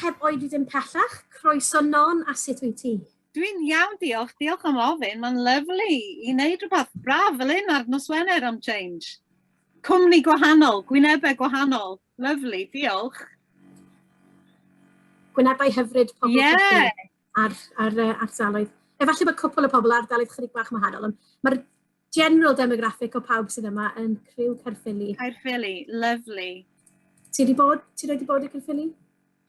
Heb oedi dim pellach, croeso Non a sut wyt ti? Dwi'n iawn, diolch. Diolch am ofyn. Mae'n lyflu i wneud rhywbeth braf fel un ar nos Wener am change. Cwmni gwahanol, gwynebau gwahanol. Lyflu, diolch. Gwynebau hyfryd pobl yeah. ar, ar, ar, ar saloedd. Efallai bod cwpl o pobl ar daloedd chydig bach wahanol, ond mae'r general demographic o pawb sydd yma yn criw Caerffili. Caerffili, lovely. Ti wedi bod, ti wedi bod i Caerffili?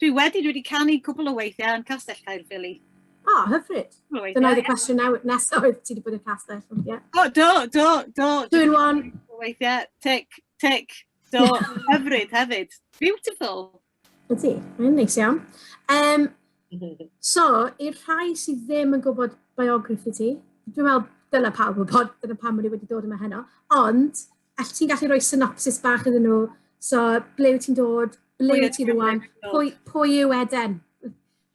Dwi wedi, dwi wedi canu cwbl o weithiau yn Castell Caerffili. O, oh, hyfryd. Dyna oedd y cwestiwn nesaf oedd ti wedi bod i'r castell. Yeah. O, do, do, do. Dwi'n one. Weithiau, tic, tic, do, hyfryd hefyd. Beautiful. Ydy, mae'n neis iawn. Um, so, i'r rhai sydd ddim yn gwybod biography ti, dwi'n meddwl dyna pawb yn bod, dyna pam o'n i wedi dod yma heno, ond all ti'n gallu rhoi synopsis bach iddyn nhw, so ble wyt ti'n dod, ble wyt ti'n rwan, pwy, pwy yw Eden?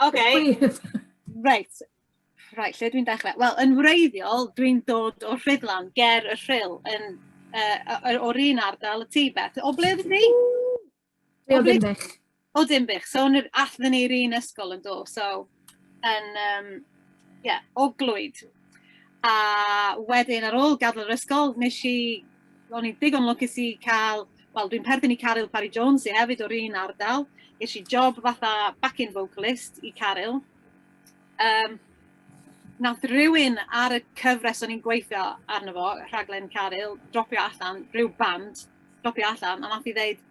OK, right. Right, lle dwi'n dechrau? Wel, yn wreiddiol, dwi'n dod o Rhydlan, ger y Rhyl, yn, uh, o'r un ardal y tu, Beth. O ble ydych chi? Be oedd Dinbych? O Dinbych. So, athyn ni'r un ysgol yn do. So, yn, um, yeah, o glwyd. A wedyn, ar ôl gadael yr ysgol, nes i, o'n i'n digon lwcus i cael, wel, dwi'n perthyn i Caryl Parry Jones i hefyd o'r un ardal. Nes i job fatha backing vocalist i Caryl. Um, nath rhywun ar y cyfres o'n i'n gweithio arno fo, rhaglen Caryl, dropio allan, rhyw band, dropio allan, a nath i ddeud,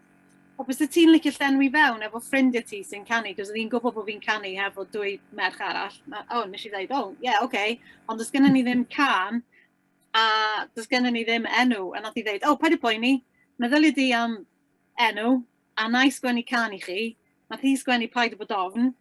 o, bys ti'n licio llenwi fewn efo ffrindiau ti sy'n canu, cos oedd hi'n gwybod bod fi'n canu hefo dwy merch arall. O, oh, nes i ddeud, o, oh, ie, yeah, oce, okay. ond does gennym ni ddim can, a does gennym ni ddim enw, a nath i ddeud, o, oh, paid y poeni, meddyliau di am enw, a na i sgwennu can i chi, nath hi sgwennu paid y bod ofn,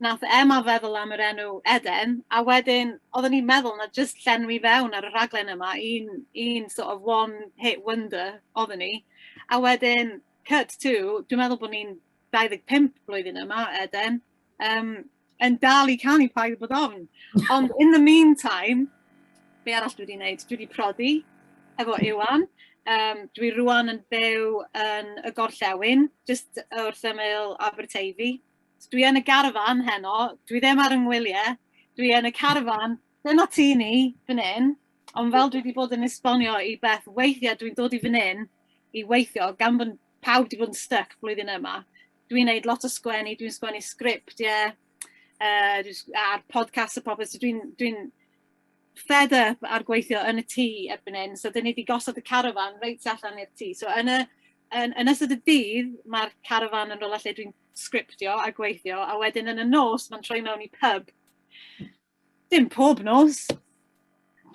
Nath Emma feddwl am yr enw Eden, a wedyn oedden ni'n meddwl na jyst llenwi fewn ar y rhaglen yma, un un sort of one hit wonder oedden ni. A wedyn cut to, dwi'n meddwl bod ni'n 25 blwyddyn yma, Eden, um, yn dal i canu paid bod ofn. Ond in the meantime, be arall dwi wedi wneud? Dwi wedi prodi efo Iwan. Um, dwi rwan yn byw yn y gorllewin, jyst wrth ymyl Aberteifi. Dwi yn y garfan heno, dwi ddim ar yngwyliau, dwi yn y carfan. Dyna ti ni, fan hyn. Ond fel dwi wedi bod yn esbonio i Beth, weithiau dwi'n dod i fan hyn i weithio, gan bod pawb wedi bod yn styc flwyddyn yma. Dwi'n gwneud lot o sgwennu, dwi'n sgwennu sgript, ie, uh, a'r podcast a popeth, so dwi'n dwi, dwi fed up ar gweithio yn y tŷ erbyn hyn, so dan ni wedi gosod y carafán reit allan i'r tŷ. So yn y yn yn ystod y dydd, mae'r carafán yn rywle lle dwi'n sgriptio a gweithio, a wedyn yn y nos mae'n troi mewn i pub. Dim pob nos,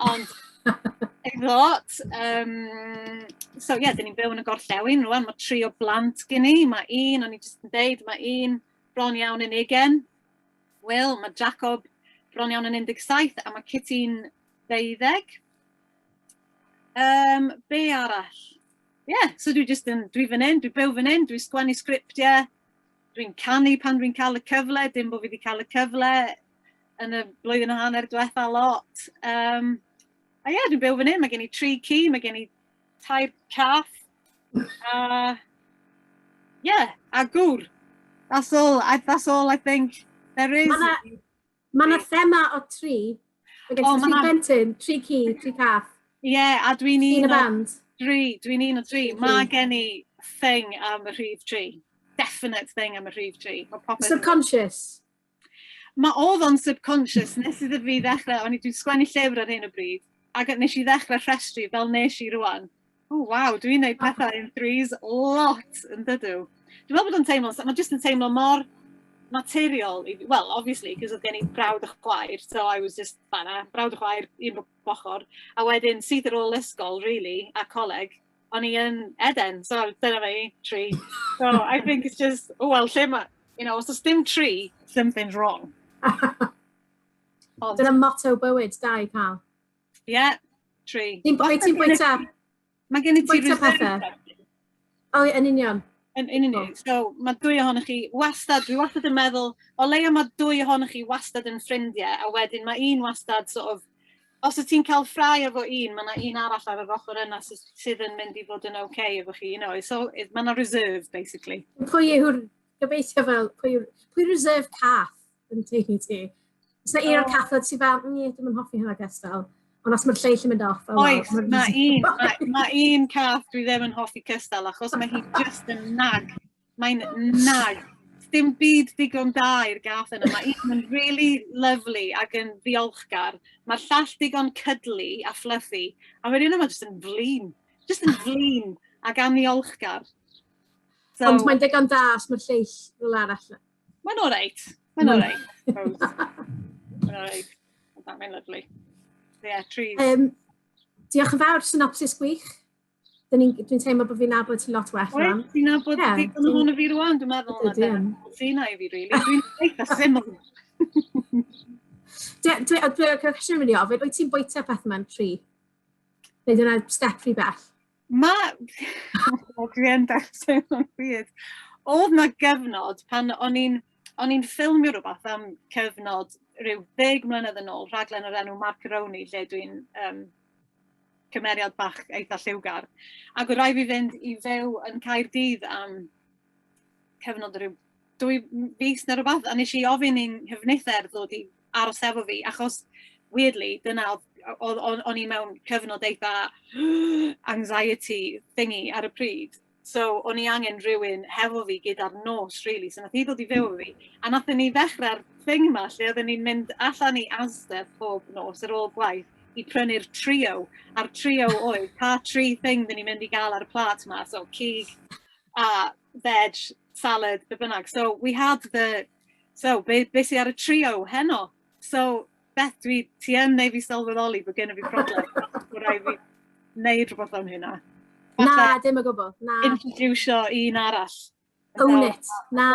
ond ei lot. Um, so ie, yeah, dyn ni'n byw yn y gorllewin rwan, mae tri o blant gen i, mae un, o'n i jyst yn deud, mae un bron iawn yn ugen, Wel, mae Jacob bron iawn yn 17 a mae Kitty'n 20. Um, be arall? Ie, yeah, so dwi just yn, dwi fan hyn, dwi byw fan hyn, dwi'n sgwennu sgriptiau, dwi'n canu pan dwi'n cael y cyfle, dim bod fi wedi cael y cyfle yn y blwyddyn a hanner diwetha lot. Um, a ie, yeah, dwi'n byw fan hyn, mae gen i tri ci, mae gen i tair caff, A, yeah, a gŵr. That's all, I, that's all I think there is. Mae yna ma, na thema o tri. Mae gen oh, tri plentyn, tri ci, tri cath. Ie, yeah, a dwi'n un o... Dri, dwi'n un o dri. Mae gen i thing am y rhif tri. Definite thing am y rhif tri. Subconscious. Mae oedd o'n subconscious nes iddo fi ddechrau, o'n i dwi'n sgwennu llyfr ar hyn o bryd, ac nes i ddechrau rhestru fel nes i rwan. O, oh, waw, dwi'n neud pethau in threes lot yn dydw. Dwi'n meddwl bod o'n teimlo, mae jyst yn teimlo mor materiol, well, obviously, cos oedd gen i brawd a chwaer, so I was just fanna, brawd a chwaer, un bob ochr, a wedyn syth ar ôl ysgol, really, a coleg, o'n i yn Eden, so dyna fi, tri. So I think it's just, o wel, lle mae, you know, os oes dim tri, something's wrong. Ond... Dyna motto bywyd, da i cael. Ie, yeah, tri. Ti'n bwyta? Mae gen i ti reserve. O, yn union. Yn union. So, mae dwy ohonych chi wastad, dwi wastad yn meddwl, o leia mae dwy ohonych chi wastad yn ffrindiau, a wedyn mae un wastad sort of Os wyt ti'n cael ffrae efo un, mae yna un arall ar yr ochr yna sydd yn mynd i fod yn oce okay efo chi, you know, so mae yna reserve, basically. Pwy yw'r, gobeithio fel, pwy yw'r, pwy reserve cath yn ti i ti? Os yna un o'r cath oedd ti fel, ni, dwi'n mynd hoffi hynna ges fel. Ond os mae'r lleill yn mynd off... Oes, mae un, mae un cath dwi ddim yn hoffi cystal, achos mae hi just yn nag Mae'n nag. Dim byd digon da i'r gath yna. Mae un yn really lovely ac yn ddiolchgar. Mae'r llall digon cydlu a fluffy. A mae'r un yma jyst yn flin. Jyst yn flin ac aniolchgar. So, Ond mae'n digon da os mae'r lleill fel arall. Mae'n oreit. Mae'n oreit. Mae'n oreit. Mae'n lyflu. Ie, yeah, trees. Um, diolch yn fawr, synopsis gwych. Dyn ni'n, dwi'n teimlo bod fi'n nabod ti lot well rhan. Oes, ti'n nabod yeah, digon hwn o fi rwan, dwi'n meddwl. Dwi, dwi, dwi. Ti'n ai fi, really. Dwi'n eitha syml. Dwi, dwi, dwi, cwestiwn mynd i ofyn, wyt ti'n bwyta peth yma'n tri? Neu dyna step rhy bell? Ma... o, dwi yn dechrau o'n byd. Oedd na gyfnod pan o'n i'n o'n i'n ffilmio rhywbeth am cyfnod rhyw ddeg mlynedd yn ôl, rhaglen o'r enw Macaroni, lle dwi'n um, cymeriad bach eitha lliwgar. Ac oedd rai fi fynd i fyw yn Caerdydd am cyfnod rhyw dwy fus neu rhywbeth, a nes i ofyn i'n hyfnither ddod i aros efo fi, achos weirdly, dyna oedd o'n i mewn cyfnod eitha anxiety thingy ar y pryd. So, o'n i angen rhywun hefo fi gyda'r nos, really. So, nath hi ddod i fyw fi. A nath ni ddechrau'r thing yma, lle oedden ni'n mynd allan i Asda pob nos ar ôl gwaith i prynu'r trio. A'r trio oedd, pa tri thing dyn ni'n mynd i gael ar y plat yma. So, cig, a veg, salad, be bynnag. So, we had the... So, be, be sy ar y trio heno? So, Beth dwi, ti yn neu fi sylweddoli bod gen i fi problem. Bod rhaid fi wneud rhywbeth am hynna. Na, dim o gwbl. Na. Introducio un arall. Own it. Na,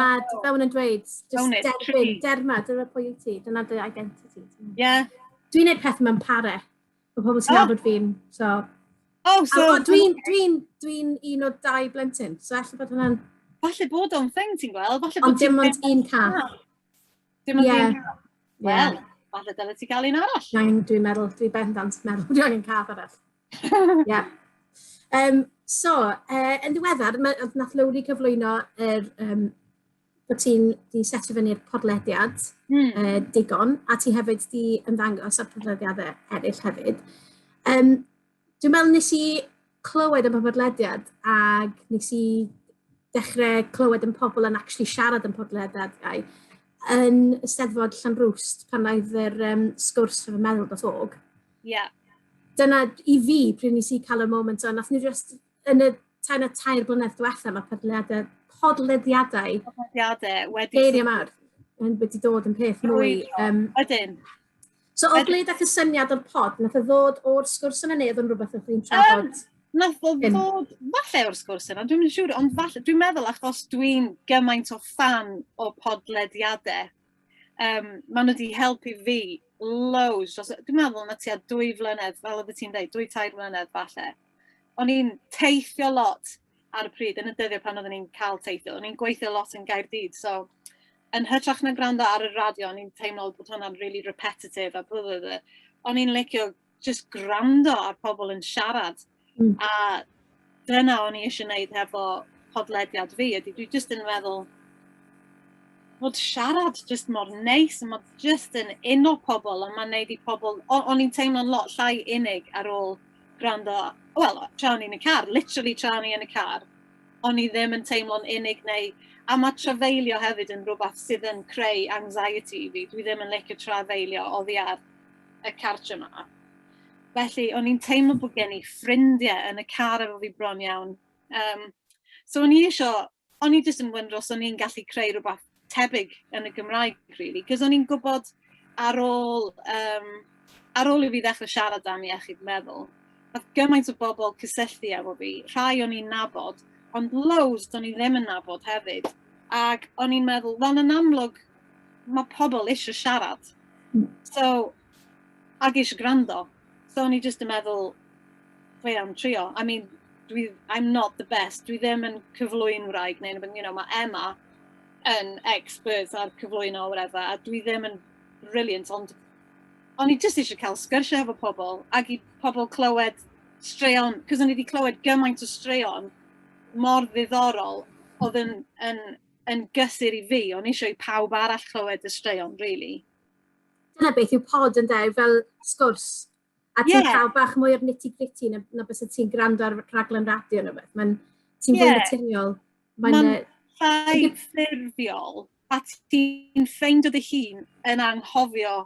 fel yn dweud, just derbyn, derma, dyna pwy i ti, dyna dy identity. Yeah. Dwi'n neud peth mewn pare. Mae pobl sy'n oh. abod fi'n, so... Oh, so... Dwi'n dwi, dwi un o dau blentyn, so efallai bod hwnna'n... Falle bod o'n thing ti'n gweld, falle bod... Ond dim ond un car. Dim ond yeah. un. Wel, falle dyna ti gael un arall. Mae'n, dwi'n meddwl, dwi'n bendant meddwl, dwi'n angen cath arall. Ie. Um, so, uh, yn ddiweddar, nath Lowri cyflwyno yr, um, bod ti'n di setio fyny'r podlediad mm. uh, digon, a ti hefyd di ymddangos ar podlediadau eraill hefyd. Um, Dwi'n meddwl nes i clywed am y podlediad ac nes i dechrau clywed yn pobl yn actually siarad yn podlediad gau yn y Steddfod Llanrwst pan oedd yr um, sgwrs rhwng y meddwl dros og. Ie. Yeah. Dyna i fi pryd nes i cael y moment o, nath ni just yn y tair na tair blynedd diwetha, mae podlediadau, podlediadau, podlediadau wedi... Geiriau mawr, yn wedi dod yn peth mwy... Um, Ydyn. So, o glyd ac y syniad o'r pod, nath o ddod o'r sgwrs yna neu oedd yn rhywbeth oedd chi'n trafod? Um, Nath o ddod, falle o'r sgwrs yna, dwi'n siŵr, ond falle, dwi'n meddwl achos dwi'n gymaint o fan o podlediadau um, maen nhw wedi helpu fi loads. Dros, dwi'n meddwl na ti a dwy flynedd, fel oedd ti'n dweud, dwy tair flynedd falle. O'n i'n teithio lot ar y pryd, yn y dyddiau pan oedden ni'n cael teithio. O'n i'n gweithio lot yn Gaerdydd, so yn hytrach na gwrando ar y radio, o'n i'n teimlo bod hwnna'n really repetitive a bwyd. O'n i'n licio just gwrando ar pobl yn siarad. Mm. A dyna o'n i eisiau gwneud hefo podlediad fi, ydy dwi just yn meddwl bod siarad just mor neis, a mae just yn uno pobl, a mae'n neud i pobl, o'n i'n teimlo'n lot llai unig ar ôl gwrando, wel, tra o'n i'n y car, literally tra o'n i'n y car, o'n i ddim yn teimlo'n unig neu, a mae trafeilio hefyd yn rhywbeth sydd yn creu anxiety i fi, dwi ddim yn licio trafeilio oddi ar y cartre yma. Felly, o'n i'n teimlo bod gen i ffrindiau yn y car efo fi bron iawn. Um, so, o'n i eisiau, o'n i jyst yn wyndro os o'n i'n gallu creu rhywbeth tebyg yn y Gymraeg, really. Cos o'n i'n gwybod ar ôl, um, ar ôl i fi ddechrau siarad am iechyd meddwl, oedd gymaint o bobl cysylltu efo fi, rhai o'n i'n nabod, ond loads o'n i ddim yn nabod hefyd. Ac o'n i'n meddwl, wel yn amlwg, mae pobl eisiau siarad. Hmm. So, ac eisiau gwrando. So, o'n i jyst yn meddwl, fe am trio. I mean, dwi, I'm not the best. Dwi ddim yn cyflwy'n wraig neu, you know, mae Emma yn expert ar cyflwyno o whatever, a dwi ddim yn brilliant, ond o'n i jyst eisiau cael sgyrsiau efo pobl, ac i pobl clywed straeon, cos o'n i wedi clywed gymaint o straeon mor ddiddorol oedd yn, yn yn gysur i fi, o'n eisiau i pawb arall clywed y straeon, really. Dyna beth yw pod yn dweud, fel sgwrs. A ti'n yeah. cael bach mwy o'r nitty gritty na, na bys ti'n gwrando ar raglen radio neu beth. Mae'n ti'n yeah. fwy naturiol. Mae'n ma llai ffurfiol. A ti'n ffeind o dy hun yn anghofio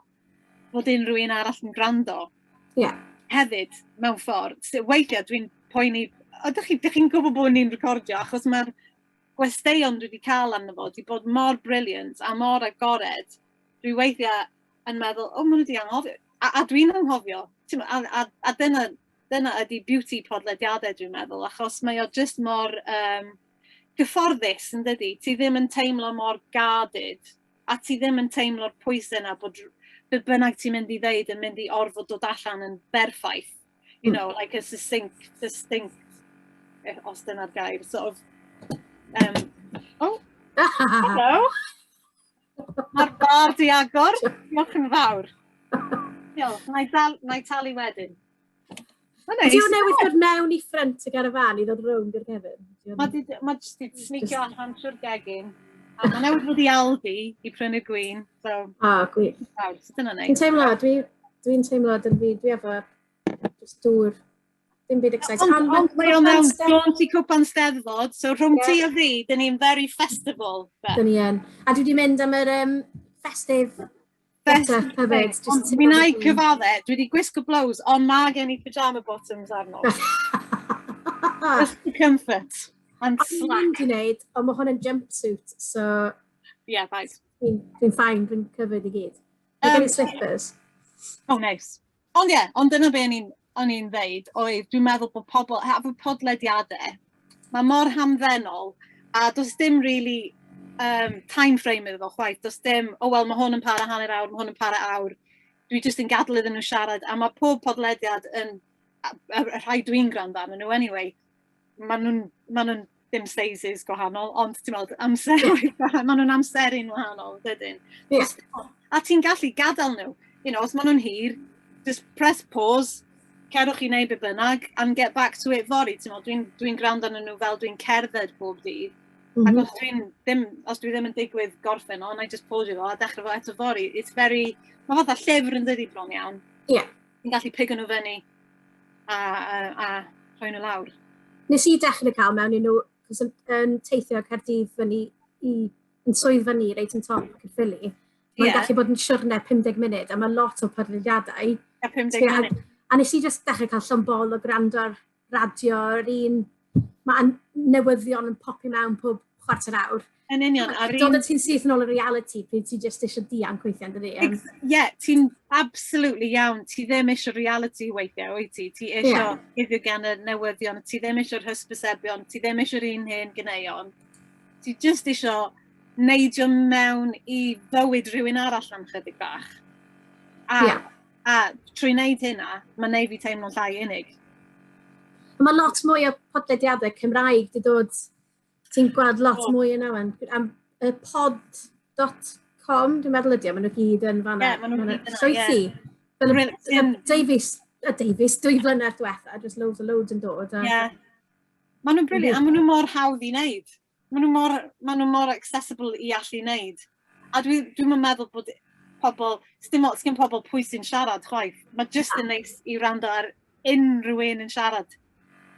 fod unrhyw un arall yn gwrando. Ie. Yeah. Hefyd, mewn ffordd. So, weithiau dwi'n poeni, ydych chi'n chi gwybod bod ni'n recordio achos mae'r gwesteion dwi 'di cael amdano fo 'di bod mor brilliant a mor agored, dwi weithiau yn meddwl, o, maen nhw 'di anghofio, a, a dwi'n anghofio, a, a, a dyna, dyna ydi beauty podlediadau dwi'n meddwl, achos mae o jyst mor um, gyfforddus yn dydy, ti ddim yn teimlo mor gadid, a ti ddim yn teimlo'r pwysau yna bod be bynnag ti'n mynd i ddeud yn mynd i orfod dod allan yn berffaith. you hmm. know, like a succinct, succinct, eh, os dyna'r gair, sort of, um, oh, hello, mae'r bar di agor, diolch yn fawr. Diolch, na i, dal, na i talu wedyn. Ydy o'n newid dod mewn i ffrent y garafan i ddod rownd i'r gefn? Mae jyst wedi snicio allan trwy'r gegin. A mae newid wedi aldi i prynu'r gwyn. So, a, ah, gwych. Dwi'n teimlo, dwi'n dwi teimlo dyn fi, dwi efo just dŵr, dim byd exciting. Ond, ond mae o'n mewn jaunt i cwpan steddfod, so rhwng yeah. ti a fi, dyn ni'n very festival. Dyn ni yn. A dwi wedi mynd am yr um, festive Mi na i cyfadde, dwi wedi gwisgo blows, ond mae gen i pyjama bottoms arno. Just for comfort and slack. Dwi'n gwneud, ond mae hwn yn jumpsuit, so... Yeah, right. Dwi'n ffain, dwi'n cyfyd i gyd. Mae gen i slippers. Oh, nice. Ond ie, yeah, ond dyna be o'n i'n o'n i'n ddeud oedd dwi'n meddwl bod pobl, hefo bod podlediadau, mae mor hamddenol a does dim really um, time frame iddo fo chwaith, does dim, o oh, wel mae hwn yn para hanner awr, mae hwn yn para awr, dwi jyst yn gadw iddyn nhw siarad a mae pob podlediad yn, y rhai dwi'n gwrando arnyn nhw anyway, maen nhw'n, maen nhw'n dim sizes gwahanol, ond ti'n meddwl, amser, maen nhw'n amseru'n wahanol, dydyn. Yes. A ti'n gallu gadael nhw, you know, os maen nhw'n hir, just press pause, cerwch i wneud be bynnag, and get back to it fori, ti'n meddwl, dwi'n dwi, dwi gwrando nhw fel dwi'n cerdded bob dydd, Mm -hmm. Ac os dwi'n ddim, os dwi ddim yn digwydd gorffen o, na i just pause fo a dechrau fo eto fori. It's very, mae fath o llyfr yn dydi bron iawn. Ie. Yeah. Fi'n gallu pigo nhw fyny a, a, a rhoi nhw lawr. Nes i dechrau cael mewn i nhw, cos yn, yn teithio Caerdydd fyny i, yn swydd fyny reit yn top Caerffili. Mae'n yeah. gallu bod yn siwrne 50 munud, a mae lot o podlediadau. A 50 munud. A, a nes i just dechrau cael llwmbol o gwrando ar radio, yr un... Mae newyddion yn popio mewn pob chwarter awr. Yn union. A'r un... Dod y ti'n syth yn ôl y reality, pryd ti jyst eisiau dianc weithiau, dydy? Ie, yeah, ti'n absolutely iawn. Ti ddim eisiau reality weithiau, wyt ti? Ti eisiau yeah. iddo gan y newyddion, ti ddim eisiau'r hysbysebion, ti ddim eisiau'r un hen gyneuon. Ti jyst eisiau neidio mewn i fywyd rhywun arall am chydig bach. A yeah. A trwy wneud hynna, mae'n neud fi teimlo'n llai unig. Mae lot mwy o podlediadau Cymraeg di dod, ti'n gweld lot oh. mwy yna wan. Am y pod.com, dwi'n meddwl ydi, maen nhw gyd yn fanna. Ie, yeah, maen nhw gyd yna, Sioethu. Yeah. Davies, a Davies, dwy flynedd diwetha, just loads a loads yn dod. Ie. Yeah. Maen nhw'n briliant, a maen nhw mor hawdd i wneud. Maen nhw mor, maen nhw mor accessible i allu wneud. A dwi, dwi'm yn meddwl bod pobl, sdim ots gen pobl pwy sy'n siarad chwaith. Mae jyst yn neis i wrando ar unrhyw un yn siarad.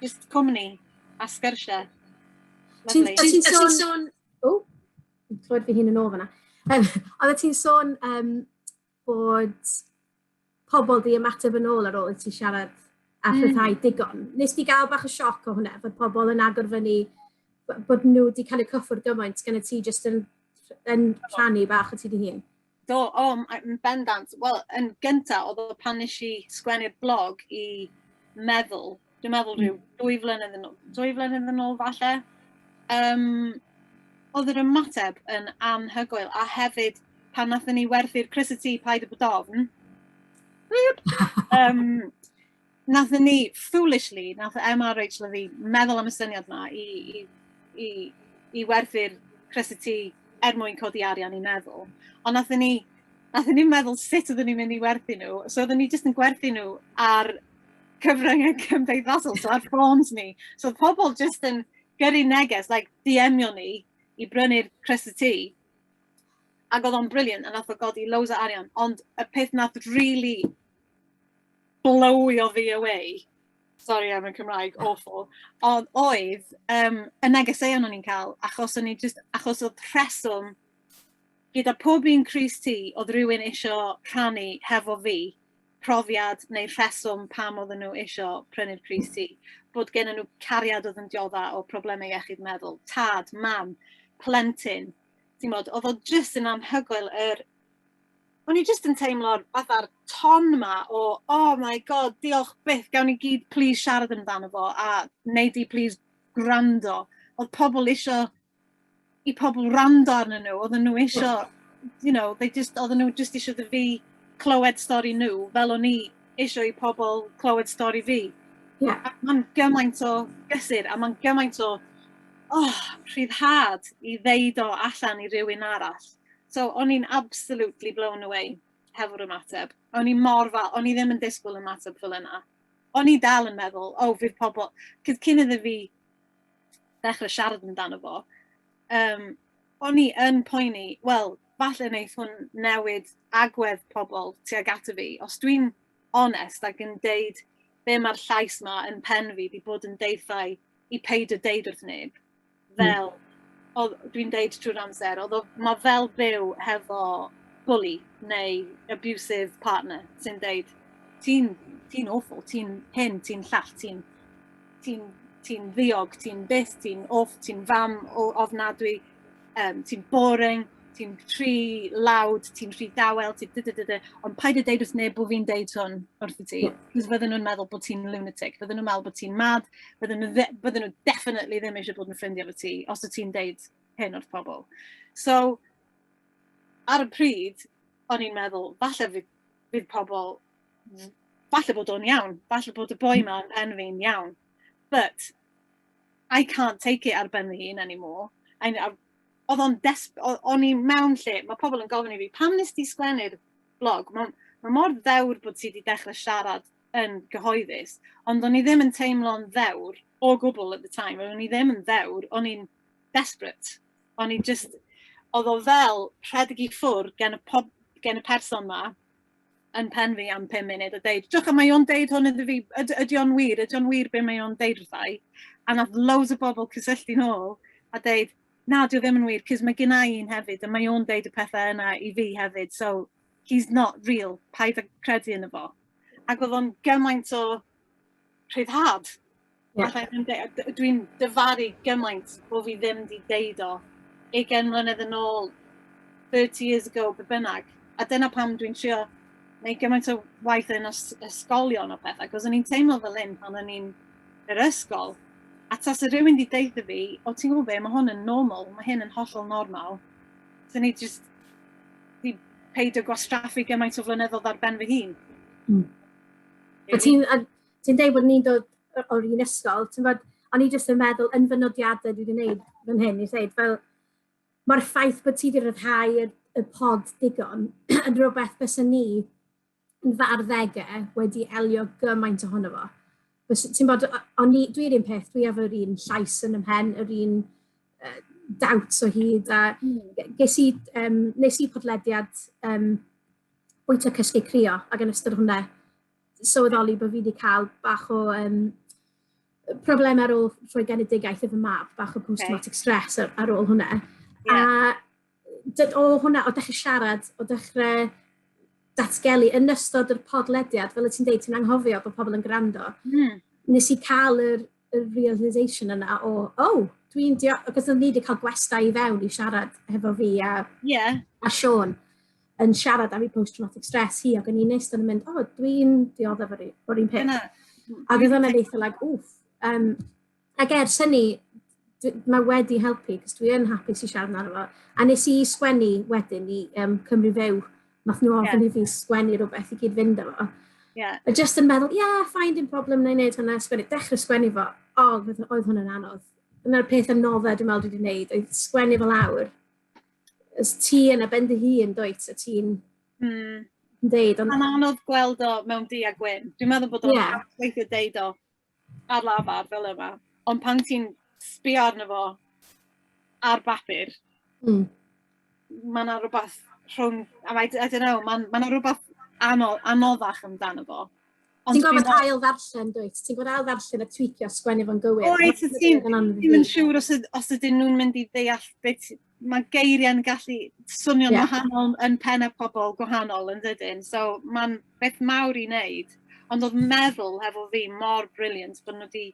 Jyst cwmni a sgyrsiau. Ti'n ti sôn... sôn... O, clywed fi hun yn ôl fyna. Um, Oedde ti'n sôn um, bod pobl di ymateb yn ôl ar ôl i ti siarad a hmm. rhyddhau mm. digon. Nes di gael bach o sioc o hwnna, bod pobl yn agor fyny, bod nhw wedi cael eu cyffwrdd gymaint gan y ti jyst yn, yn rhannu bach o ti di hun? Do, o, yn bendant. Wel, yn gyntaf, oedd o pan nes i sgwennu'r blog i meddwl dwi'n meddwl rhyw hmm. dwy flynedd yn ôl, dwy flynedd yn ôl falle, um, oedd yr ymateb yn anhygoel, a hefyd pan nath ni werthu'r Chris y Tŷ Paid y Bodofn, um, nath ni, foolishly, nath Emma a Rachel a fi meddwl am y syniad yma i, i, i, i werthu'r Chris y Tŷ er mwyn codi arian i meddwl. Ond nath ni, nath ni meddwl sut oeddwn ni'n mynd i werthu nhw, so oeddwn ni jyst yn gwerthu nhw ar cyfryngau cymdeithasol, so ar ffôns ni. So pobl jyst yn gyrru neges, like, diemio ni i brynu'r crysau ti. Ac oedd o'n briliant, a nath o godi loads o arian, ond y peth nath really blowio fi away, sorry am y Cymraeg, awful, ond oedd um, y negeseuon o'n i'n cael, achos o'n i just, achos oedd rheswm gyda pob un Cris ti, oedd rhywun eisiau rhannu hefo fi, profiad neu'r rheswm pam oedden nhw eisiau prynu'r Cris T, bod gen nhw cariad oedd yn diodda o problemau iechyd meddwl, tad, mam, plentyn. Ti'n bod, oedd o jyst yn anhygoel yr... O'n i jyst yn teimlo'r fatha'r ton ma o, oh my god, diolch byth, gawn ni gyd plîs siarad amdano fo, a wnei di plîs gwrando. Oedd pobl eisiau i pobl wrando arnyn nhw, oedden nhw isio, you know, they just, oedden nhw just isio dy fi clywed stori nhw, fel o'n i isio i pobl clywed stori fi. Yeah. Mae'n gymaint o gysur, a mae'n gymaint o oh, rhyddhad i ddeud o allan i rywun arall. So, o'n i'n absolutely blown away hefo'r ymateb. O'n i mor fa, o'n i ddim yn disgwyl ymateb fel yna. O'n i dal yn meddwl, o, oh, fydd pobl... Cyd cyn iddo fi ddechrau siarad amdano fo, um, o'n i yn poeni, wel, falle wneud hwn newid agwedd pobl tuag ato fi. Os dwi'n onest ac yn deud be mae'r llais yma yn pen fi wedi bod yn deithau i peid o deud wrth neb, hmm. fel mm. dwi'n deud trwy'r amser, oedd mae fel byw hefo bully neu abusive partner sy'n deud, ti'n ti awful, ti'n hyn, ti'n llall, ti'n ti'n ti ddiog, ti'n byth, ti'n off, ti'n fam o ofnadwy, um, ti'n boring, ti'n rhy lawd, ti'n rhy dawel, ti'n dy, dy, dy, dy. Ond paid y deud wrth neb bod fi'n deud hwn wrth i ti. Cos fydden nhw'n meddwl bod ti'n lunatic, fydden nhw'n meddwl bod ti'n mad, fydden nhw, bydden nhw definitely ddim eisiau bod yn ffrindiau fo ti, os y ti'n deud hyn wrth pobl. So, ar y pryd, o'n i'n meddwl, falle fydd, fydd pobl falle bod o'n iawn, falle bod y boi ma yn pen fi'n iawn, but I can't take it ar ben fy hun anymore. I, I, oedd o'n desp... O'n i mewn lle, mae pobl yn gofyn i fi, pam nes ti sglennu'r blog? Mae ma mor ddewr bod ti wedi dechrau siarad yn gyhoeddus, ond o'n i ddim yn teimlo'n ddewr o gwbl at the time, o'n i ddim yn ddewr, o'n i'n desperate. O'n i just, oedd o fel rhedeg i ffwrdd gen y, pob, gen y person ma, yn pen fi am 5 munud a deud, diolch am mae o'n deud hwn iddo fi, ydy, ydy o'n wir, ydy o'n wir be mae o'n deud wrthau. A nath loads o bobl cysylltu nôl a deud, na, dwi ddim yn wir, cys mae gynna i un hefyd, a mae o'n deud y pethau yna i fi hefyd, so he's not real, paid â credu yn y fo. Ac oedd o'n gymaint o rhyddhad. Yeah. Alla i ddim deud, dwi'n dyfaru gymaint bod fi ddim wedi deud o 20 mlynedd yn ôl, 30 years ago, be bynnag. A dyna pam dwi'n trio neu gymaint o waith yn ysgolion o pethau, cos o'n i'n teimlo fel un pan o'n i'n yr ysgol. A tas y rhywun wedi deud fi, o ti'n gwybod be, mae hwn yn normal, mae hyn yn hollol normal. So ni jyst di peidio gwastraffu gymaint o flynyddoedd ar ben fy hun. Mm. Ti'n ti'n deud bod ni'n dod o'r un ysgol, ti'n bod, o'n i jyst yn meddwl yn fy nodiadau dwi wedi gwneud fan hyn, i ddeud, fel, mae'r ffaith bod ti wedi rhyddhau y, y pod digon yn rhywbeth bys ni yn fy arddegau wedi elio gymaint ohono fo. Ti'n bod, o'n i, dwi'n un peth, dwi efo'r un llais yn ymhen, yr un uh, dawt o hyd, a hmm. ges i, um, nes i podlediad um, bwyta cysgu crio, ac yn ystod hwnna, sylweddoli bod fi wedi cael bach o um, problemau ar ôl rhoi genedigaeth i fy mab, bach o post-traumatic okay. stress ar, ar ôl hwnna. Yeah. A o hwnna, o dechrau siarad, o dechrau datgelu yn ystod yr podlediad, fel y ti'n deud, ti'n anghofio bod pobl yn gwrando. Mm. Nes i cael yr y realisation yna o, oh, dwi'n dio... Cos o'n ni wedi cael gwestau i fewn i siarad hefo fi a, yeah. a Sean yn siarad am ei post-traumatic stress hi, ac o'n i'n neist yn mynd, o, oh, dwi'n dioddef o'r un peth. Yna. Ac oedd hwnna'n eitha, like, wff. Um, ac er syni, mae wedi helpu, cos dwi yn hapus i siarad amdano fo. A nes i sgwennu wedyn i um, Cymru Few Nath nhw ofyn yeah. i fi sgwennu rhywbeth i gyd fynd efo. Yeah. A just yn meddwl, yeah, fine, dim problem, na i wneud hwnna, sgwennu, dechrau sgwennu fo. O, oh, oedd hwnna'n anodd. Yna'r peth yn nodda dwi'n meddwl dwi wedi gwneud, oedd sgwennu fo lawr. Ys ti yn a bend dy hun, dwyt, a ti'n mm. deud. Ond... Mae'n anodd gweld o mewn di a gwyn. Dwi'n meddwl bod o'n yeah. weithio deud o ar lafar fel yma, ond pan ti'n sbio arno fo ar bapur... Mm. ...ma' 'na rwbath rhwng a mae I don't know ma'n ma' 'na rwbath ano- anoddach amdano fo. Ond ti'n gorfod ail ddarllen dwyt? Ti'n gorfod ail ddarllen a twîcio a sgwennu fo'n gywir. Wyt ti'n ti'n ddim yn siŵr os yd- os ydyn nhw'n mynd i ddeall be' ti mae geiriau'n gallu swnio'n yeah. wahanol yn pen y pobl gwahanol yn ddydyn. So mae'n beth mawr i wneud. Ond oedd meddwl hefo fi mor briliant bod nhw wedi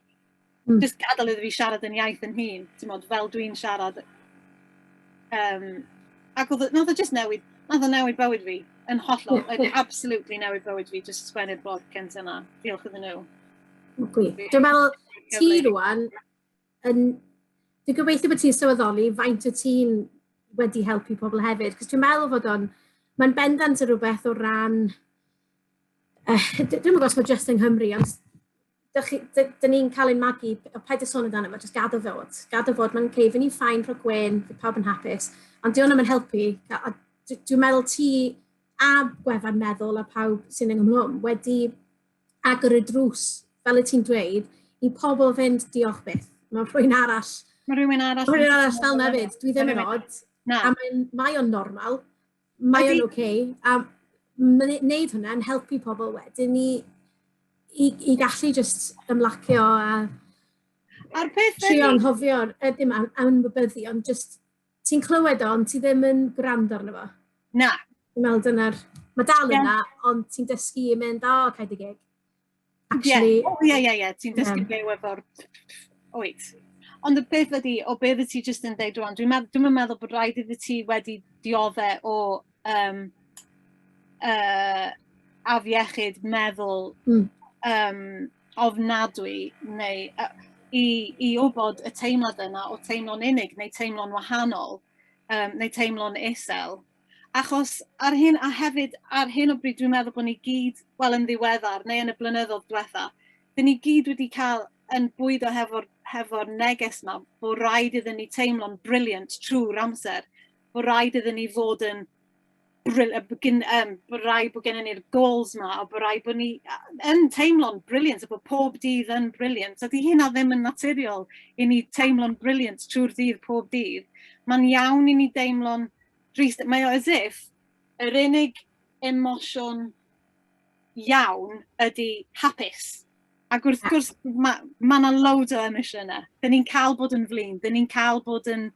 mm. just gadael iddo fi siarad yn iaith yn hun. Ti'n modd, fel dwi'n siarad. Um, ac oedd, oedd e just newid, oedd e newid bywyd fi yn hollol. Yeah. Oedd absolutely newid bywyd fi, just sgwennu'r bod cynt yna. Diolch iddyn nhw. Dwi'n meddwl, ti rwan, yn... Dwi'n gobeithio bod ti'n sylweddoli faint o ti'n wedi helpu pobl hefyd, cos dwi'n meddwl fod o'n... Mae'n bendant yn rhywbeth o ran... Uh, dwi'n meddwl os mae jyst yng Nghymru, ond dyn ni'n cael ein magu, o paid y sôn amdano fo, jyst gadw fod. Gadw fod, mae'n cei, fy ni'n ffain rhoi gwen, fy pawb yn hapus, ond diolch yn helpu. Dwi'n meddwl ti a gwefan meddwl a pawb sy'n yng Nghymru wedi agor y drws, fel y ti'n dweud, i pobl fynd diolch byth. Mae rhywun arall... Mae rhywun arall... Mae rhywun arall fel na fyd. Dwi ddim yn odd. Na. A mae'n, mae o'n normal. Mae o'n oce. Okay, a wneud hwnna'n helpu pobl wedyn i, i, i gallu just ymlacio a... A'r peth... Trio anghofio, dim anwybyddu, ond just Ti'n clywed o, ond ti ddim yn gwrando arno fo. Na. Dwi'n meddwl dyna'r... Mae dal yna, yeah. ond ti'n dysgu i mynd, o, oh, cael dy gig. Actually... Ie, yeah. ie, ie, ie. Ti'n dysgu yeah. byw efo'r... Oed. Ond y beth ydi, o beth ydi ti jyst yn dweud rwan, dwi'n meddwl, dwi meddwl bod rhaid iddi ti wedi diodde o um, uh, afiechyd meddwl mm. um, ofnadwy neu uh, i, i wybod y teimlad yna o teimlo'n unig neu teimlo'n wahanol um, neu teimlo'n isel. Achos ar hyn, a hefyd ar hyn o bryd dwi'n meddwl bod ni gyd, wel yn ddiweddar neu yn y blynyddoedd diwetha, dyn ni gyd wedi cael yn bwydo hefo'r hefo neges yma bod rhaid iddyn ni teimlo'n briliant trwy'r amser bod rhaid iddyn ni fod yn brilliant, um, bod rhaid bod gennym ni'r goals yma, a bod rhaid bod ni yn teimlo'n brilliant, a bod pob dydd yn brilliant. Ydy hynna ddim yn naturiol i ni teimlo'n brilliant trwy'r dydd pob dydd. Mae'n iawn i ni deimlo'n drist. Mae o as if yr unig emosiwn iawn ydy hapus. Ac wrth gwrs, mae yna ma loads o emosiynau. Dyn ni'n cael bod yn flin, dyn ni'n cael bod yn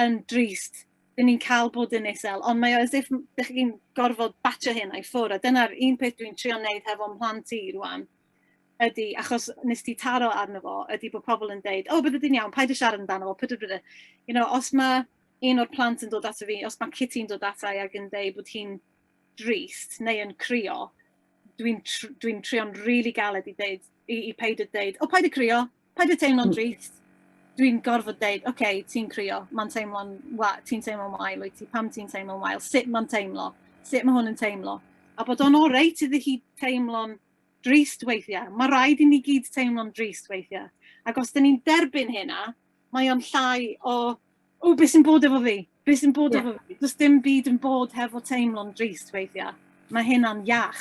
yn drist, dan ni'n cael bod yn isel, ond mae o as if dych chi'n gorfod batio hyn a'i ffwrdd, a dyna'r un peth dwi'n trio wneud hefo mhlant i rwan, ydy, achos nes ti taro arno fo, ydy bod pobl yn deud, o, oh, bydde di'n iawn, paid y siarad amdano fo, pydw bydw. You know, os mae un o'r plant yn dod ato fi, os mae Kitty'n dod ato i ac yn deud bod hi'n drist neu yn crio, dwi'n dwi, tr dwi trio'n rili really galed i ddeud, i, i peid y deud, o, paid y crio, Paid â teimlo'n drist. Dwi'n gorfod deud, oce, okay, ti'n crio, mae'n teimlo'n wael, ti'n teimlo'n wael wyt ti, pam ti'n teimlo'n wael, sut mae'n teimlo, sut mae hwn yn teimlo. A bod o'n oreit iddi hi teimlo'n drist weithiau. Mae rhaid i ni gyd teimlo'n drist weithiau. Ac os dyn ni'n derbyn hynna, mae o'n llai o, o, beth sy'n bod efo fi? Beth sy'n bod yeah. efo fi? Does dim byd yn bod hefo teimlo'n drist weithiau. Mae hynna'n iach.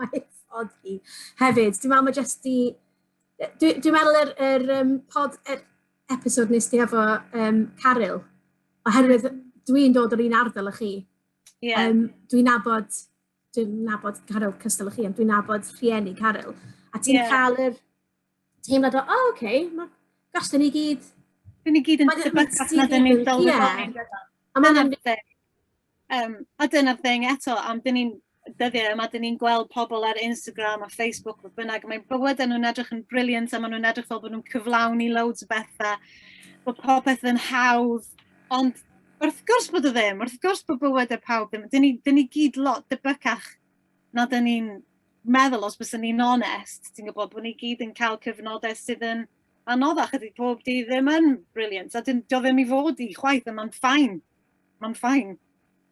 Mae ffordd hi. Hefyd, dwi'n meddwl mae jyst i... Dwi'n dwi meddwl yr, yr um, pod, yr episod nes ti efo um, Caryl, oherwydd dwi'n dod o'r un ardal â chi. Yeah. Um, dwi'n nabod, dwi'n nabod Caryl cystal â chi, ond dwi'n nabod rhieni Caryl. A ti'n yeah. cael yr teimlad o, o, oh, oce, okay, mae gastau ni gyd... Dyn ni gyd yn sefyll allan dyn ni'n dolfod. A mae'n Um, a dyna'r thing eto, am dyn ni'n dyddiau yma, dyn ni'n gweld pobl ar Instagram a Facebook, fodd bynnag, mae bywydau nhw'n edrych yn briliant a maen nhw'n edrych fel bod nhw'n cyflawni loads o bethau, bod popeth yn hawdd, ond wrth gwrs bod o ddim, wrth gwrs bod bywydau pawb ddim, dyn ni, dyn ni gyd lot dybycach na dyn ni'n meddwl, os byswn ni'n onest, ti'n gwybod bod ni gyd yn cael cyfnodau sydd yn anoddach, ydy pob di ddim yn brilliant, a dyn, do ddim i fod i chwaith, a mae'n ffain, mae'n ffain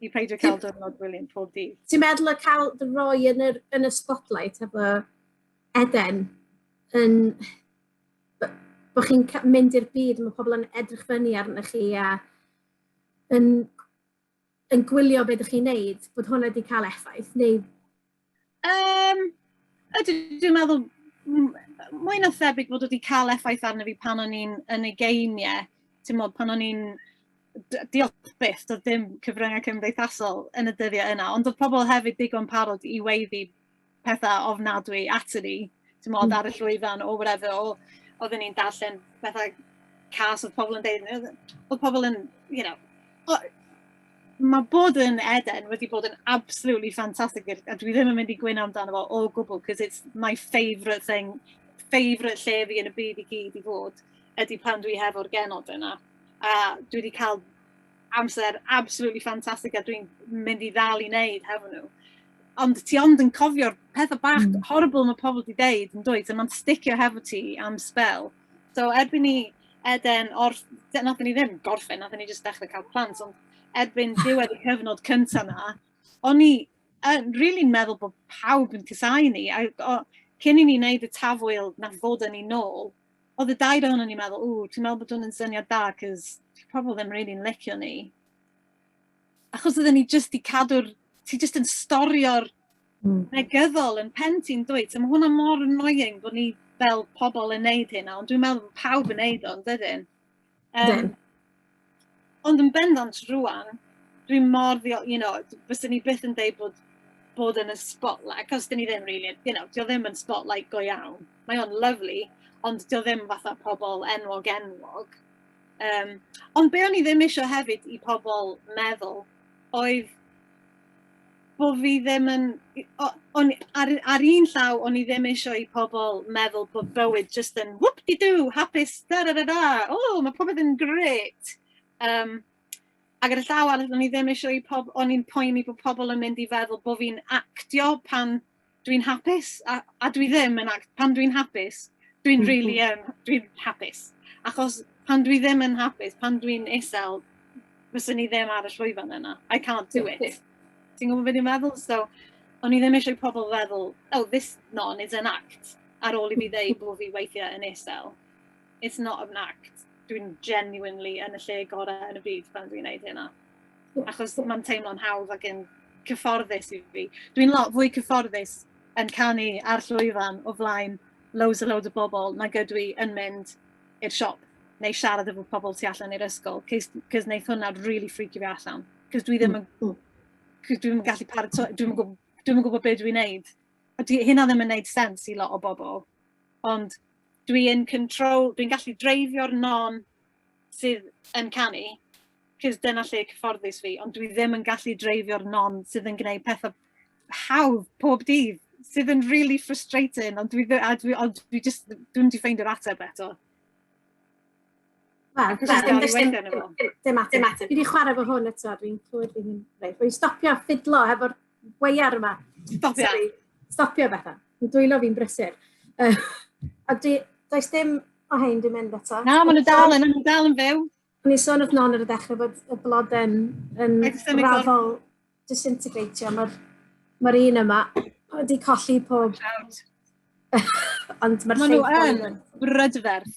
i peidio cael diwrnod brilliant pob di. Ti'n meddwl y cael dy roi yn, yr, yn y spotlight efo Eden, yn, bod chi'n mynd i'r byd, mae pobl yn edrych fyny arnych chi a yn yn gwylio beth ydych chi'n neud, bod hwnna wedi cael effaith, neu... Um, ydw, dwi'n meddwl mwy na thebyg bod wedi cael effaith arno fi pan o'n i'n yn y geiniau, ti'n modd, pan o'n i'n diolch byth, doedd dim cyfryngau cymdeithasol yn y dyddiau yna, ond oedd pobl hefyd digon parod i weiddi pethau ofnadwy aton ni, timod, ar y llwyfan or whatever, or oedden ni'n darllen pethau cas oedd pobl yn deud, oedd pobl yn, you know, o, mae bod yn Eden wedi bod yn absolutely fantastic, a dwi ddim yn mynd i gwyno amdano fo o gwbl, cos it's my favourite thing, favourite lle fi yn y byd i gyd i fod, ydy pan dwi hefo'r genod yna. A dwi wedi cael amser absolutely fantastic a dwi'n mynd i ddal i wneud hefo nhw. Ond ti ond yn cofio'r pethau bach mm. horrible mae pobl wedi deud yn dweud, so mae'n sticio hefo ti am spel. So erbyn ni Eden, or, nath ni ddim gorffen, nath ni jyst dechrau cael plant, ond erbyn diwedd y cyfnod cyntaf na, o'n i yn really meddwl bod pawb yn cysau ni. A, o, cyn i ni wneud y tafwyl na fod yn ei nôl, oedd y dair ohono ni meddwl, ww, dwi'n meddwl bod hwn yn syniad da, cos dyw pobl ddim rili'n licio ni. Achos oedden ni jyst i cadw'r... Ti jyst yn storio'r mm. negyddol yn pen ti'n dweud. So mae hwnna mor annoying bod ni fel pobl yn neud hynna, ond dwi'n meddwl bod pawb yn neud o'n dydyn. Um, ond yn bendant rwan, dwi mor ddio, you know, fyswn ni byth yn deud bod bod yn y spotlight, cos dyn ni ddim really, you know, dio ddim yn spotlight go iawn. Mae o'n lovely, ond dio ddim fatha pobl enwog enwog. Um, ond be o'n i ddim eisiau hefyd i pobl meddwl oedd bo' fi ddim yn i- o- o'n i... Ar ar un llaw o'n i ddim eisiau i pobl meddwl bod bywyd jyst yn whoop-de-doo, hapus da-da-da-da, o ma' popeth yn grêt! Yym ac ar y llaw arall o'n i ddim eisiau i pob- o'n i'n poeni bo' pobl yn mynd i feddwl bo' fi'n actio pan dwi'n hapus a, a dwi ddim yn ac pan dwi'n hapus, dwi'n mm -hmm. really yn, um, dwi'n hapus. Achos pan dwi ddim yn hapus, pan dwi'n isel, fyswn i ddim ar y llwyfan yna. I can't do it. Ti'n gwybod beth i'n meddwl? So, o'n i ddim eisiau pobl feddwl, oh, this non is an act, ar ôl i fi ddeud bod fi weithiau yn isel. It's not an act. Dwi'n genuinely yn y lle gorau yn y byd pan dwi'n gwneud hynna. achos mae'n teimlo'n hawdd ac yn cyfforddus i fi. Dwi'n lot fwy cyfforddus yn canu ar llwyfan o flaen loads a loads o bobl nag ydw i yn mynd i'r siop neu siarad efo pobl tu allan i'r ysgol, cys wneud hwnna really freaky fi allan. Cys dwi ddim yn, mm, mm. dwi ddim yn gallu paratoi, dwi ddim yn gwybod, dwi ddim yn gwybod beth dwi'n neud. A dwi, hynna ddim yn neud sens i lot o bobl. Ond dwi'n control, dwi'n gallu dreifio'r non sydd yn canu, cos dyna lle cyfforddus fi, ond dwi ddim yn gallu dreifio'r non sydd yn gwneud pethau hawdd pob dydd, sydd yn really frustrating, ond dwi, a dwi, ond dwi just, dwi'n di ffeindio'r ateb eto. Wel, dwi'n ddim ddim ateb. Dwi wedi chwarae fo hwn eto, dwi'n clywed fi'n rhaid. Dwi'n stopio ffidlo hefo'r gwear yma. Stopio. Sorry, stopio bethau. Yn dwylo fi'n brysur. Uh, a di, does dim o hyn di mynd eto. Na, maen nhw dal yn, nhw dal yn fyw. Ni sôn wrth non ar y dechrau bod y blod yn, yn raddol disintegratio. Mae'r ma un yma wedi colli pob... Ond mae'r llygod... Maen nhw yn brydferth.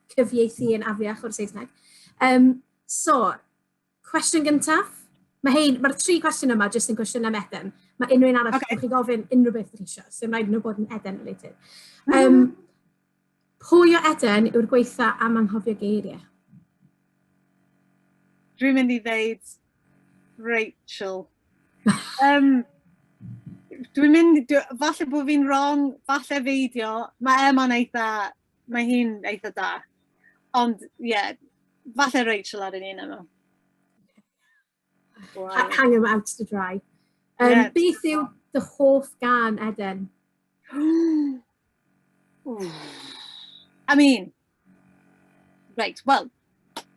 cyfieithu yn afiach o'r Saesneg. Um, so, cwestiwn gyntaf. Mae hyn, mae'r tri cwestiwn yma jyst yn cwestiwn am Eden. Mae unrhyw un arall okay. chi'n gofyn unrhyw beth ydych eisiau, sy'n rhaid nhw bod yn Eden related. Um, mm -hmm. Pwy o Eden yw'r gweitha am anghofio geiriau? Dwi'n mynd i ddeud Rachel. um, Dwi'n mynd, dwi, falle bod fi'n wrong, falle feidio, mae Emma'n eitha Mae hi'n eitha da. Ond, ie, yeah, falle Rachel ar un yma. Wow. Hang him out to dry. Um, yeah. Beth yw dy hoff gan, Eden? I mean, right, well,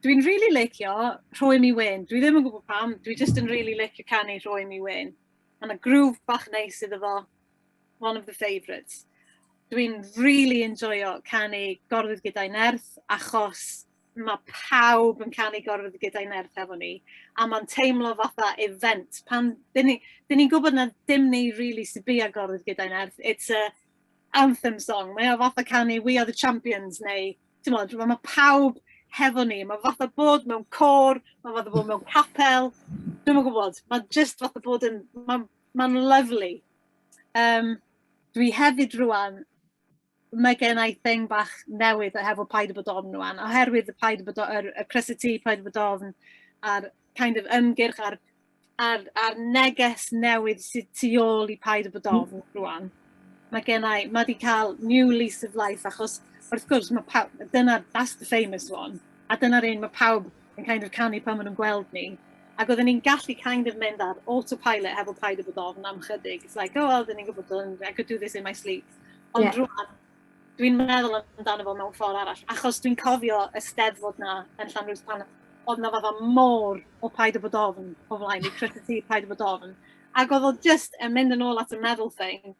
dwi'n really licio rhoi mi wyn. Dwi ddim yn gwybod pam, dwi just yn really licio canu rhoi mi wyn. Mae'n y grŵf bach neis iddo fo. one of the favourites. Dwi'n rili enjoio canu Gorwedd Gyda'i Nerth, achos mae pawb yn canu Gorwedd Gyda'i Nerth efo ni, a mae'n teimlo fatha event. Pan, dyn ni, dyn ni'n gwybod na dim ni rili really sy'n bia Gorwedd Gyda'i Nerth, it's a anthem song, mae o fatha canu We Are The Champions, neu, ti'n modd, mae pawb hefo ni, mae fatha bod mewn cor, mae fatha bod mewn capel, dwi'n yn gwybod, mae just fatha bod yn, mae Mae'n lyflu. Um, dwi hefyd rwan, mae gen i thing bach newydd hefo paid y bod ofn rwan, oherwydd y paid y bod ofn, y crysity, paid y bod ofn, a'r kind of ymgyrch a'r, ar, ar neges newydd sydd tu ôl i paid y bod ofn rwan. Mae gennau, mae wedi cael new lease of life achos wrth gwrs mae pawb, dyna, that's the famous one, a dyna'r un mae pawb yn kind of canu pan maen nhw'n gweld ni. Ac oedden ni'n gallu kind of mynd ar autopilot hefo paid o bod ofn am chydig. It's like, oh, oedden ni'n gwybod, I could do this in my sleep. Ond yeah. rwan, dwi'n meddwl amdano fo mewn ffordd arall, achos dwi'n cofio y steddfod 'na yn Llanrwst pan oedd 'na fatha môr o Paid â Bod Ofn o flaen i, Croeso ti Paid â Bod Ofn. Ac oedd o jyst yn mynd yn ôl at y meddwl thing,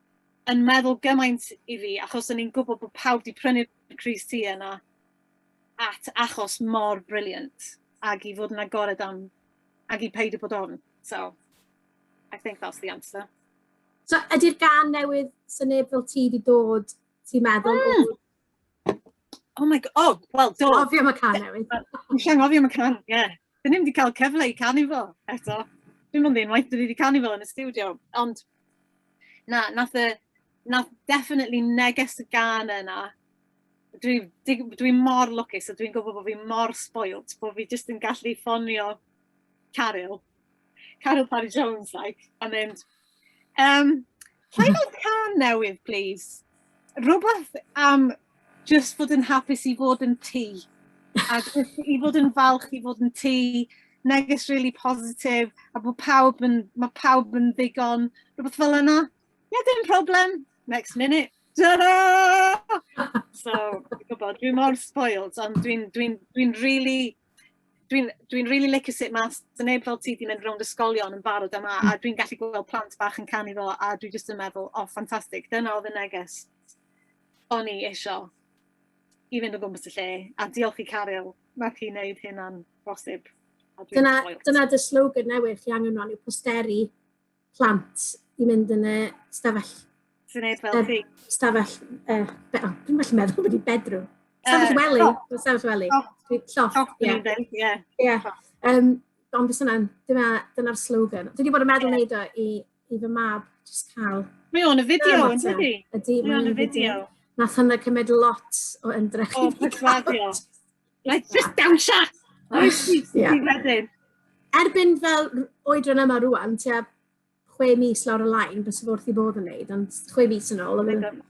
yn meddwl gymaint i fi, achos o'n i'n gwybod bod pawb 'di prynu'r crys ti yna at achos mor brilliant, ac i fod yn agored am, ac i Paid â Bod Ofn. So, I think that's the answer. So ydy'r gan newydd sy'n neb fel ti wedi dod, ti'n meddwl? Mm. Oh my god, oh, wel do. Dwi'n gofio am y can newydd. Dwi'n llan gofio am y can, ie. Yeah. Dyn ni'n wedi cael cyfle i canu fo eto. Dwi'n mwyn ddyn waith dyn ni wedi canu fo yn y studio, ond na, nath y, nath definitely neges y gan yna. Dwi'n dwi, dwi mor lwcus a dwi'n gwybod bod fi mor spoilt, bod fi jyst yn gallu ffonio Caryl Caryl Parry Jones like a mynd um, rhaid o'r can newydd please rhywbeth am just fod yn hapus i fod yn ti a just i fod yn falch i fod yn ti neges really positive a bod pawb yn, mae pawb yn ddigon rhywbeth fel yna yeah dim problem next minute ta-da! So, gwybod, dwi mor spoiled, ond dwi'n dwi, dwi, dwi really dwi'n dwi really licio sut mae neb fel ti wedi mynd rownd ysgolion yn barod yma, a dwi'n gallu gweld plant bach yn canu fo, a dwi jyst yn meddwl, o, oh, ffantastig, dyna oedd y neges o'n i eisiau i fynd o gwmpas y lle, a diolch i Caryl, mae ti'n neud hynna'n bosib. Dyna, dyna dy slogan newydd chi angen rhan yw posteri. plant i mynd yn y stafell... Sy'n ei fel chi? Stafell... Uh, be, oh, dwi'n gallu meddwl wedi bedrwm. Stafell wely. Oh. Stafell wely. Oh. Lloff. Lloff, ie. Ie. Ond fes yna'n, dyna'r slogan. Dwi wedi bod yn meddwl yeah. neud o i, i fy mab, jyst cael... Mae o'n y fideo, yn dydi? Ydy, mae o'n y fideo. Nath hynna cymryd lot o ymdrech. O, persuadio. Like, just dawnsio! Oes, ti wedyn. Erbyn fel oedran yma rwan, ti a chwe mis lawr y lain, bys i wrth i bod yn neud, ond chwe mis yn ôl, oedd yn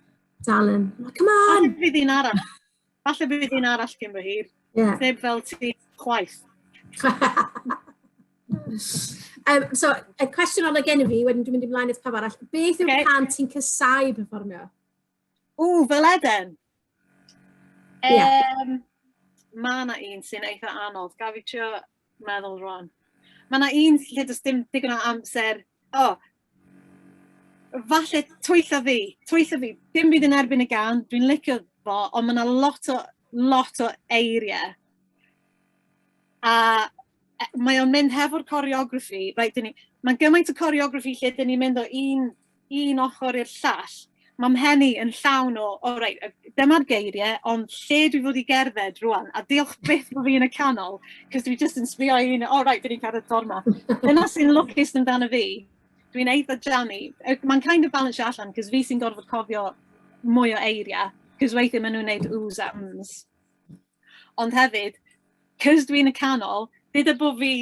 dal yn, come on! Falle bydd un arall. Falle bydd un arall gyn fy hir. Yeah. Neb fel ti chwaith. um, so, y cwestiwn ola gen i fi, wedyn dwi'n mynd i mlaen eith pawb arall. Beth yw'r okay. pan ti'n cysau performio? Ww, fel Eden! Um, yeah. Mae yna un sy'n eitha anodd, gaf i trio meddwl rwan. Mae yna un lle does dim digon o amser, o, oh, falle twyllo fi, twyllo fi, dim byd yn erbyn y gan, dwi'n licio fo, ond mae yna lot o, lot o eiriau. A e, mae o'n mynd hefo'r coreography, right, ni, mae'n gymaint o coreography lle dyn ni'n mynd o un un ochr i'r llall, mae mhen i yn llawn o, o reit, dyma'r geiriau, ond lle dwi fod i gerdded rwan, a diolch beth bod fi yn y canol, cos dwi jyst yn sbio i un, o reit, fi wedi cerdded ffordd ma. Dyna sy'n lwcus amdano fi, dwi'n eitha jammy. Mae'n kind of balance allan, cos fi sy'n gorfod cofio mwy o eiriau, cos weithiau maen nhw'n wneud oohs a ums. Ond hefyd, 'cos dwi'n y canol, deuda bo' fi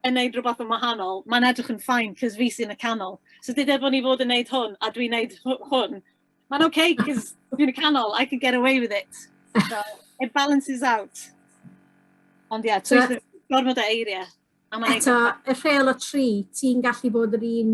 yn wneud rhywbeth yn wahanol, mae'n edrych yn fine, 'cos fi sy'n y canol. So deuda bo' ni fod yn wneud hwn, a dwi'n wneud hw- hwn, mae'n ok, 'cos dwi'n y canol, I can get away with it. So, it balances out. Ond ie, twist the... gormod o eiriau. Eto, y rheol o tri, ti'n gallu bod yr un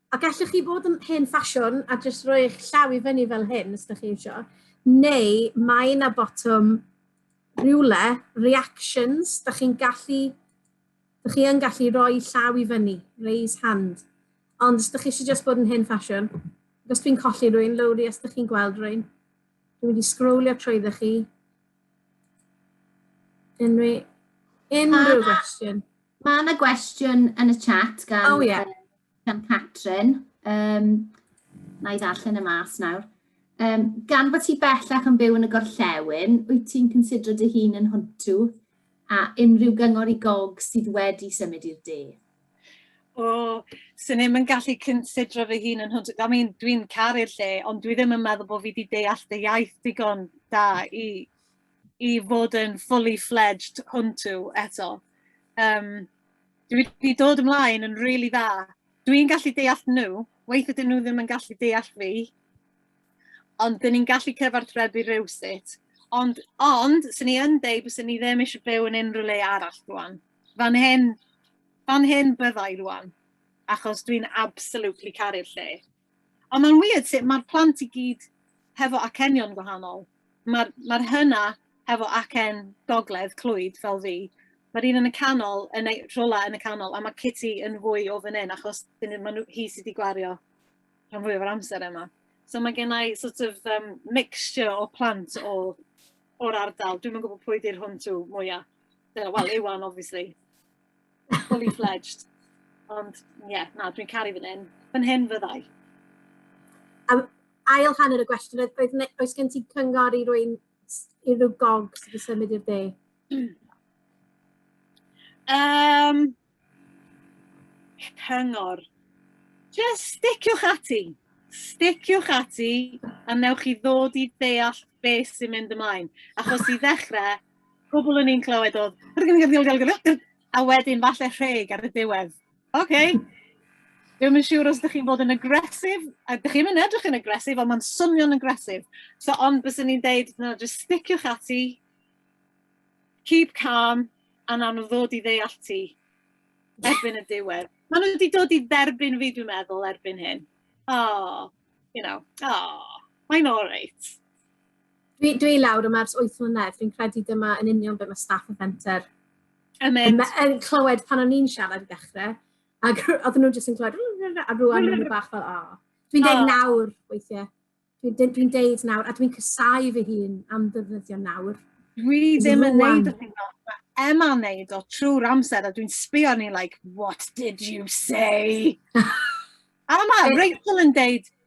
A gallwch chi fod yn hen ffasiwn a jyst rhoi eich llaw i fyny fel hyn, os da chi eisiau, neu mae yna botwm rhywle, reactions, da chi'n gallu, da chi yn gallu rhoi llaw i fyny, raise hand. Ond os da chi eisiau jyst bod yn hen ffasiwn, os dwi'n colli rwy'n lowri, os da chi'n gweld rwy'n, dwi'n mynd i sgrowlio trwy ddech chi. Unrhyw, unrhyw gwestiwn. Mae yna gwestiwn yn y chat gan... Oh, yeah. Gan Catrin, um, na i ddarllen y mas nawr. Um, gan bod ti bellach yn byw yn y gorllewin, wyt ti'n considro dy hun yn hwntw a unrhyw gyngor i gog sydd wedi symud i'r de? O, sy'n ddim yn gallu considro fy hun yn hwntw. I mean, dwi'n caru'r lle, ond dwi ddim yn meddwl bod fi wedi deall dy iaith digon da i, i fod yn fully fledged hwntw eto. Um, Dwi wedi dod ymlaen yn rili really dda. Dwi'n gallu deall nhw, weithio dyn nhw ddim yn gallu deall fi, ond dyn ni'n gallu cyfarthrebu rhywsut. Ond, ond, sy'n ni yn deud, bys ni ddim eisiau byw yn unrhyw le arall rwan. Fan hyn, fan hyn byddai rwan, achos dwi'n absolutely caru'r lle. Ond mae'n weird sut mae'r plant i gyd hefo acenion gwahanol. Mae'r ma hynna hefo acen gogledd, clwyd, fel fi, mae'r un yn y canol, yn ei rhywle yn y canol, a mae Kitty yn fwy o fan hyn, achos mae nhw, hi sydd wedi gwario rhan fwyaf o'r amser yma. So mae gen i sort of um, mixture o plant o, o'r ardal. Dwi'n yn gwybod pwy di'r hwn tu mwyaf. Wel, Iwan, obviously. Fully fledged. Ond, ie, yeah, na, dwi'n caru fan hyn. Fan hyn fyddai. Um, ail hanner y gwestiwn, oedd, oedd, oes gen ti cyngor i rwy'n i rhyw gog sydd wedi symud i'r de? Um, cyngor. Just sticiwch ati. Sticiwch ati a newch chi ddod i deall beth sy'n mynd ymlaen. Achos i ddechrau, Pobl o'n i'n clywed oedd... A wedyn falle rheg ar y diwedd. OK. Dwi'n yn siŵr os ydych chi'n bod yn agresif, a ydych chi'n edrych yn agresif, ond mae'n swnio'n agresif. So, ond bys i'n deud, no, just sticiwch ati, keep calm, a nawn nhw ddod i ddeall ti erbyn y diwedd. Maen nhw wedi dod i dderbyn fi, dwi'n meddwl, erbyn hyn. Oh, you know, oh, mae'n all right. Dwi, dwi lawr yma ers 8 mlynedd, fi'n credu dyma yn union beth mae staff y fenter yn, yn clywed pan o'n i'n siarad i ddechrau, ac oedden nhw'n jyst yn clywed, a rwan nhw'n nhw bach fel, o. Oh. Dwi'n deud nawr, weithiau, dwi'n dwi deud nawr, a dwi'n cysau fy hun am ddefnyddio nawr. Dwi ddim yn neud o hyn o. Mae Emma'n neud o trwy'r amser a dwi'n sbio ni like, what did you say? a mae Rachel yn deud,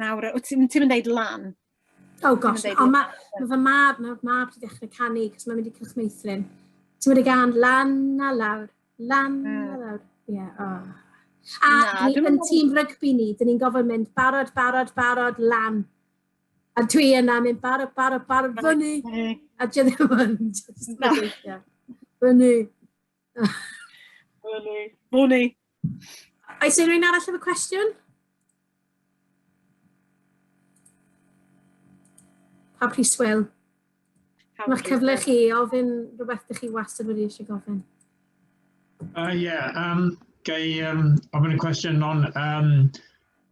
Nawr, wyt ti'n ti yn deud lan? Oh gosh, ond mae ma fy mab, mae fy mab wedi dechrau canu, cos mae'n mynd i Cylch Meithrin. Ti'n mynd i gan lan a lawr, lan a hmm. lawr. Ie, yeah, oh. A Na, ni, yn tîm rygbi ni, dyn ni'n gofyn mynd barod, barod, barod, lan. A dwi yna mynd barod, barod, barod, fyny. A dwi ddim yn mynd. Fyny. Mwni. Mwni. Oes unrhyw'n arall efo cwestiwn? Pa priswyl? Mae'r cyfle chi ofyn rhywbeth ydych chi wastad wedi eisiau gofyn. Uh, yeah, um, gai um, ofyn y cwestiwn non. Um,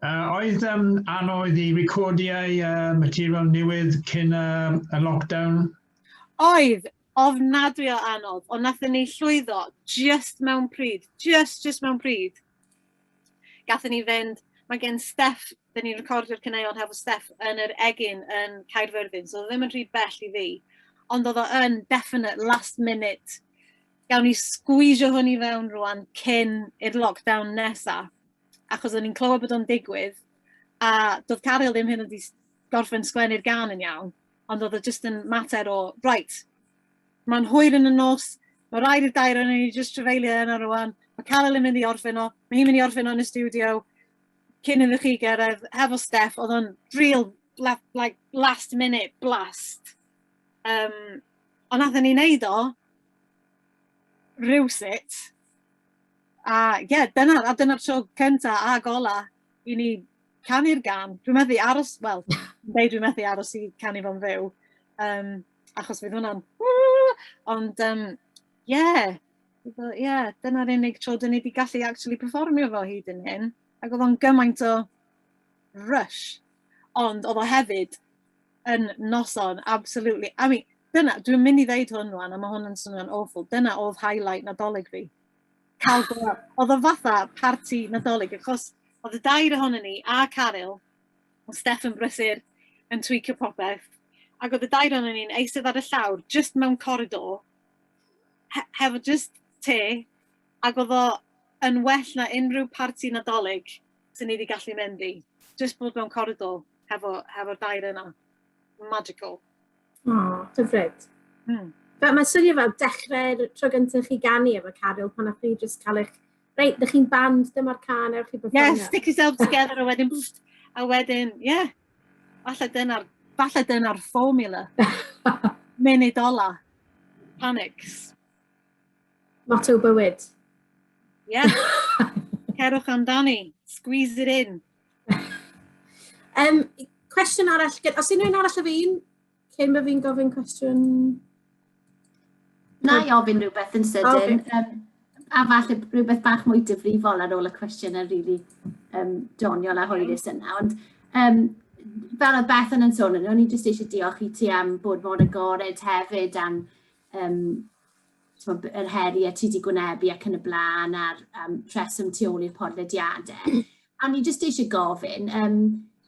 uh, oedd um, anodd i recordiau uh, material newydd cyn uh, y lockdown? Oedd, Ofnadwy o anodd, ond nathon ni llwyddo jyst mewn pryd, jyst, jyst mewn pryd. Gathon ni fynd, mae gen Steff, da ni'n recordio'r caneuon hefo Steff yn yr egin yn Caerfyrddin, so oedd ddim yn rhy bell i fi, ond oedd o yn definite last minute, gawn ni sgwisio hwn i fewn rwan cyn i'r lockdown nesa, achos o'n i'n clywed bod o'n digwydd, a doedd Caryl ddim hyn yn gorffen sgwennu'r gan yn iawn, Ond oedd o jyst yn mater o, right, mae'n hwyr yn y nos, mae rhaid i'r dair yn ni jyst trefeilio yna rwan, mae Carol yn mynd i orffen o, mae hi'n mynd i orffen o yn y studio, cyn iddo chi gyrraedd, hefo Steph, oedd o'n real like, last minute blast. Um, ond nath ni wneud o, rhywsut, a ie, yeah, dyna, a dyna'r tro cyntaf a gola i ni canu'r gan. Dwi'n methu aros, wel, neu dwi'n methu aros i canu fo'n fyw, um, achos fydd hwnna'n... Ond, um, yeah, yeah, dyna'r unig tro dyn ni wedi gallu actually performio fo hyd yn hyn. Ac oedd o'n gymaint o rush. Ond oedd o hefyd yn noson, absolutely. I mean, dyna, dwi'n mynd i ddeud hwn rwan, a mae hwn yn swnio'n awful. Dyna oedd highlight nadolig fi. cael gweld. Oedd o'n fatha parti Nadolig, achos oedd y dair ohono ni, a Caryl, oedd Steff yn brysur, yn twicio popeth, ac oedd y dair ohono ni'n eistedd ar y llawr, just mewn coridor, he hefo just te, ac oedd o yn well na unrhyw parti Nadolig sy'n ni wedi gallu mynd i. Just bod mewn coridor hefo, hefo dair yna. Magical. O, hyfryd. Mm. Fel, mae'n swnio fel dechrau'r tro gyntaf chi ganu efo Caryl pan o'ch chi jyst cael eich... Reit, dych chi'n band, dyma'r can, ewch chi performio. Yes, stick yourself together a wedyn... A wedyn, ie. Yeah. Falle dyna'r falle dyna formula. Munud ola. Panics. Motto bywyd. Yeah. Cerwch amdani. Squeeze it in. um, cwestiwn arall, os unrhyw'n arall o fi'n, cyn bod fi'n gofyn cwestiwn... Na i ofyn rhywbeth yn sydyn. Okay. Um, a falle rhywbeth bach mwy difrifol ar ôl y cwestiwn yn rili really, um, doniol a hwyrus yna. Ond um, fel y beth yn sôn, o'n i jyst eisiau diolch i ti am bod mor agored hefyd am um, t'mod yr heriau ti wedi gwynebu ac yn y blaen a'r um, rheswm tu ôl i'r podlediadau. A ni jyst eisiau gofyn, um,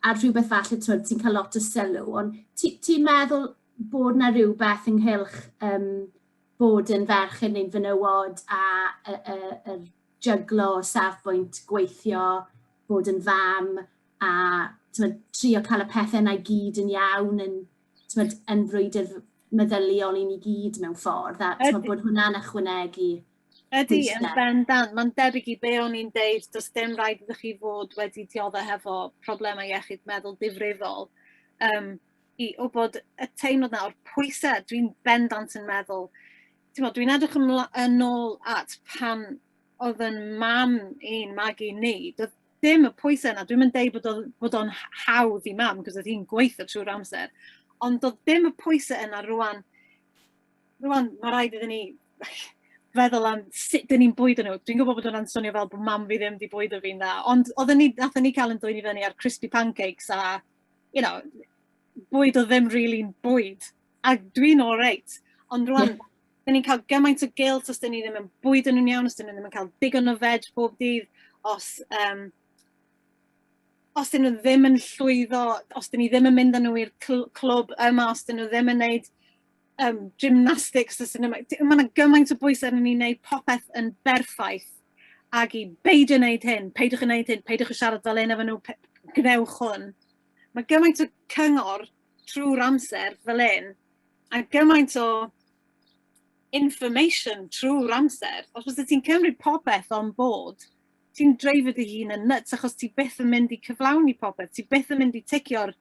a rhywbeth falle twyd, ti'n cael lot o sylw, ond ti'n ti meddwl bod na rhywbeth ynghylch um, bod yn ferch yn ein fynywod a y, y, y jyglo o safbwynt gweithio, bod yn fam a twyd, trio cael y pethau yna i gyd yn iawn yn, tmod, yn frwydr meddyliol i ni gyd mewn ffordd, a tmod, bod hwnna'n ychwanegu Ydy, yn bendant. Mae'n debyg i be o'n i'n deud, does dim rhaid iddo chi fod wedi diodde hefo problemau iechyd meddwl difrifol. Um, I o bod y teimlad na o'r pwysau, dwi'n bendant yn meddwl, dwi'n edrych yn ôl at pan oedd yn mam i'n magu ni, dim y pwysau yna. Dwi'm yn deud bod o'n bod o'n hawdd i mam, cos oedd hi'n gweithio trwy'r amser. Ond doedd dim y pwysau yna rwan. Rwan, mae rhaid iddyn ni feddwl am sut dyn ni'n bwyd nhw. Dwi'n gwybod bod hwnna'n swnio fel bod mam fi ddim wedi bwyd o fi'n dda. Ond oedden ni, nathon ni cael yn dwy'n i fyny ar crispy pancakes a, you know, bwyd o ddim really'n bwyd. A dwi'n all right. Ond rwan, dyn ni'n cael gymaint o gilt os dyn ni ddim yn bwyd yn nhw'n iawn, os dyn nhw ddim yn cael digon o veg bob dydd, os, um, os dyn nhw ddim yn llwyddo, os dyn ni ddim yn mynd â nhw i'r clwb yma, os dyn nhw ddim yn gwneud um, gymnastics, os dyn nhw... Mae yna gymaint o bwys arnyn ni wneud popeth yn berffaith ag i beidio wneud hyn, peidiwch yn wneud hyn, peidiwch yn siarad fel un efo nhw, gwnewch hwn. Mae gymaint o cyngor trwy'r amser fel hyn, a gymaint o information trwy'r amser, os oes ti'n cymryd popeth on board, ti'n dreifio dy hun yn nuts achos ti beth yn mynd i cyflawni popeth, ti beth yn mynd i ticio'r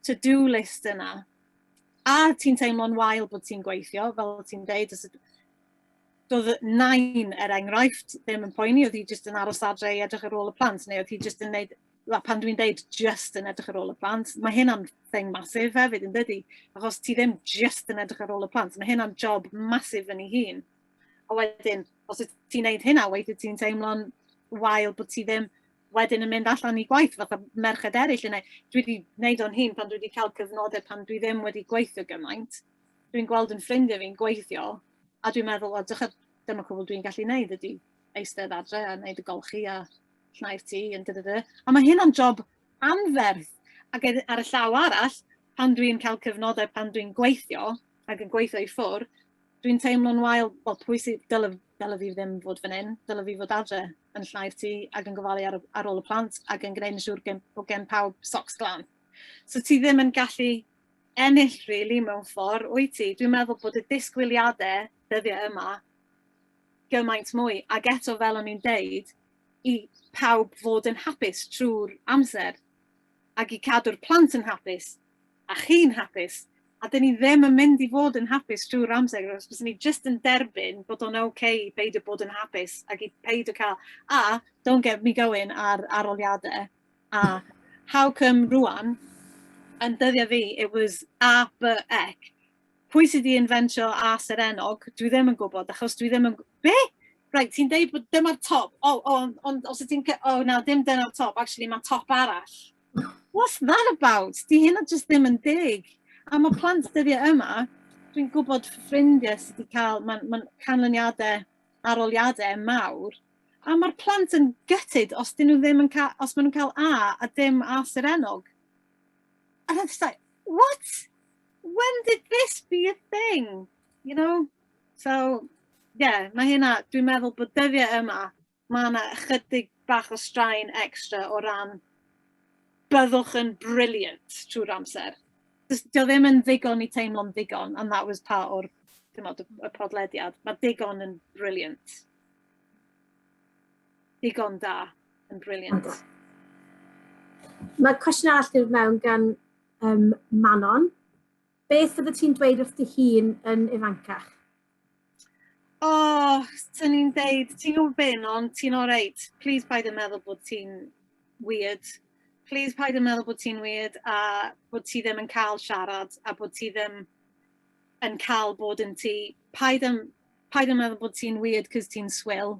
to-do list yna. A ti'n teimlo'n wael bod ti'n gweithio, fel ti'n deud, os doedd nain er enghraifft ddim yn poeni, oedd hi jyst yn aros adre i edrych ar ôl y plant, neu oedd hi jyst yn neud a pan dwi'n deud just yn edrych ar ôl y plant, mae hynna'n thing masif hefyd yn dydy, achos ti ddim just yn edrych ar ôl y plant, mae hynna'n job masif yn ei hun. A wedyn, os wyt ti'n neud hynna, weithio ti'n teimlo'n wael bod ti ddim wedyn yn mynd allan i gwaith fatha merched eraill yn ei. Dwi wedi gwneud o'n hun pan dwi wedi cael cyfnodau pan dwi ddim wedi gweithio gymaint. Dwi'n gweld yn ffrindiau fi'n gweithio a dwi'n meddwl, o, dyma cwbl dwi'n gallu gwneud ydy eistedd adre a wneud y golchi a llnau'r tŷ yn dy dy dy. A mae hyn o'n job anferth. Ac ar y llaw arall, pan dwi'n cael cyfnodau pan dwi'n gweithio ac yn gweithio i ffwrdd, dwi'n teimlo'n wael, wel pwy sydd, dyle, dyle fi ddim fod fan hyn, dyle fi fod adre yn llnau'r tŷ ac yn gofalu ar, ar ôl y plant ac yn gwneud yn siŵr gen, bod gen pawb socs glan. So ti ddim yn gallu ennill rili really, mewn ffordd, wyt ti? Dwi'n meddwl bod y disgwyliadau dyddiau yma gymaint mwy. Ac eto, fel o'n i'n deud, i pawb fod yn hapus trwy'r amser ac i cadw'r plant yn hapus a chi'n hapus a dyn ni ddim yn mynd i fod yn hapus trwy'r amser os bys ni jyst yn derbyn bod o'n ok i beidio bod yn hapus ac i peidio cael a don't get me going ar aroliadau a how come rwan yn dyddiau fi it was a, b, ec pwy sydd wedi inventio as yr enog, dwi ddim yn gwybod, achos dwi ddim yn... Be? Right, ti'n deud bod dyma'r top. O, oh, o, oh, ond os ydy'n... O, oh, na, dim dyna'r top. Actually, mae top arall. What's that about? Di hynna just ddim yn deg. A mae plant dyddiau yma, dwi'n gwybod ffrindiau sydd wedi cael, mae'n ma canlyniadau aroliadau mawr, a mae'r plant yn gytid os dyn nhw ddim yn cael, os maen nhw'n cael A a dim A sy'r enog. A that's like, what? when did this be a thing? You know? So, yeah, mae hynna, dwi'n meddwl bod dyddiau yma, mae yna ychydig bach o straen extra o ran byddwch yn brilliant trwy'r amser. Dio ddim yn ddigon i teimlo'n ddigon, and that was part o'r y podlediad. Mae digon yn brilliant. Digon da yn brilliant. Mae cwestiwn arall dwi'n mewn gan Ym Manon, beth fyddet ti'n dweud wrth dy hun yn ifancach? O, oh, swn i'n dweud, ti'n gwybod be, non, ti'n all right. Please paid yn meddwl bod ti'n weird. Please paid yn meddwl bod ti'n weird a bod ti ddim yn cael siarad a bod ti ddim yn cael bod yn ti. Paid yn, paid yn meddwl bod ti'n weird cos ti'n swil.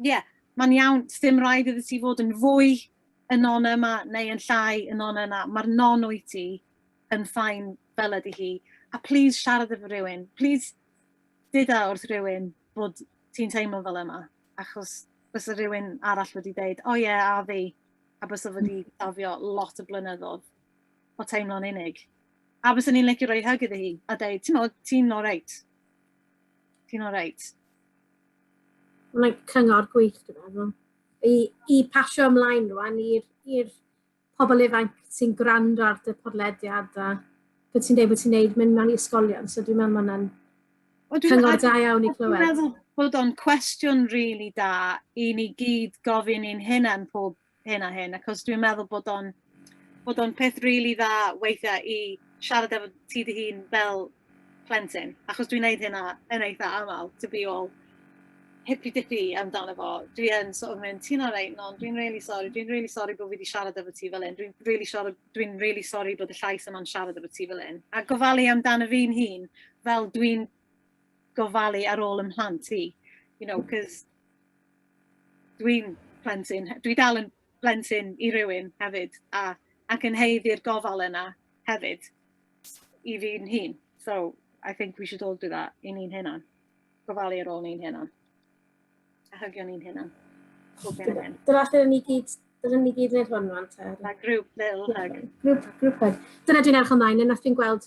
Ie, yeah, mae'n iawn, ddim rhaid iddo ti fod yn fwy yn non yma neu yn llai yn non yna. Mae'r non o'i ti yn ffain fel ydy hi. A please siarad efo rhywun. Please dyda wrth rhywun bod ti'n teimlo fel yma. Achos bys y rhywun arall wedi dweud, o oh, ie, yeah, a fi. A bys o wedi hmm. dafio lot o blynyddoedd o teimlo'n unig. A bys ni'n licio rhoi hyg iddi hi a dweud, ti'n ti'n all right. Ti'n all right? Mae'n cyngor gwych, dwi'n meddwl. I, i pasio ymlaen rwan i'r pobl ifanc sy'n gwrando ar dy podlediad a beth ti'n dweud bod ti'n neud mynd mewn i ysgolion. So dwi'n meddwl mae'n cyngor da iawn i clywed. Dwi'n meddwl bod o'n cwestiwn rili really da i ni gyd gofyn i'n hynna'n pob hyn a hyn, achos dwi'n meddwl bod o'n bod o'n peth rili really dda weithiau i siarad efo ti dy hun fel plentyn, achos dwi'n neud hynna yn eitha aml, to be all hippy-dippy amdano fo. Dwi yn sort of mynd, ti'n alright, non, dwi'n really sorry, dwi'n really sorry bod fi wedi siarad efo ti fel un, dwi'n really, sorry, dwi really sorry bod y llais yma'n siarad efo ti fel un. A gofalu amdano fi'n hun, fel dwi'n gofalu ar ôl ymhlant i, you know, cos Dwi'n plentyn, dwi dal yn blentyn i rywun hefyd a ac yn haeddu'r gofal yna hefyd i fi'n hun. So I think we should all do that i ni'n hunan. Gofalu ar ôl ni'n hunan. A hygio ni'n hunan. Dyna lle ni gyd Dyna ni gyd wneud hwn rwan te. Like group little hug. Group, group hug. Dyna dwi'n erch ymlaen, yna fi'n gweld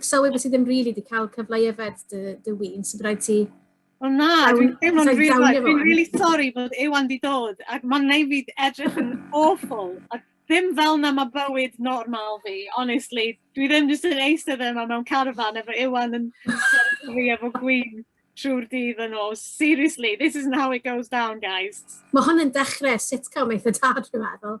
Sylwi bod ti ddim rili wedi cael cyfle i yfed dy, dy win, so byddai ti... O na, dwi'n teimlo'n rili, dwi'n rili sori bod Iwan di dod, ac mae'n neud fi edrych yn awful, a ddim fel na mae bywyd normal fi, honestly. Dwi ddim jyst yn eistedd yma mewn carfan efo Iwan yn sefyll fi efo gwyn trwy'r dydd yn ôl. Seriously, this isn't how it goes down, guys. Mae hwn yn dechrau sitcom eitha tad, dwi'n meddwl.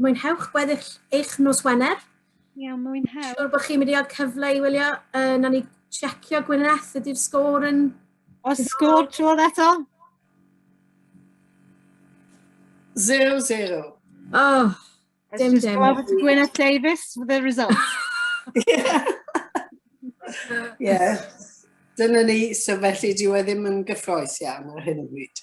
Mwynhewch gweddill eich nos Wener. Iawn, mwynhewch. Siwr bod chi'n mynd i gael cyfle i wylio, uh, na ni checio Gwyneth, ydy'r sgôr yn... O, sgôr trwodd eto? 0-0. Oh, dim dim. Gwyneth Davies with the result. yeah. yeah. Dyna ni, so felly dyw e ddim yn gyffroes iawn ar hyn o bryd.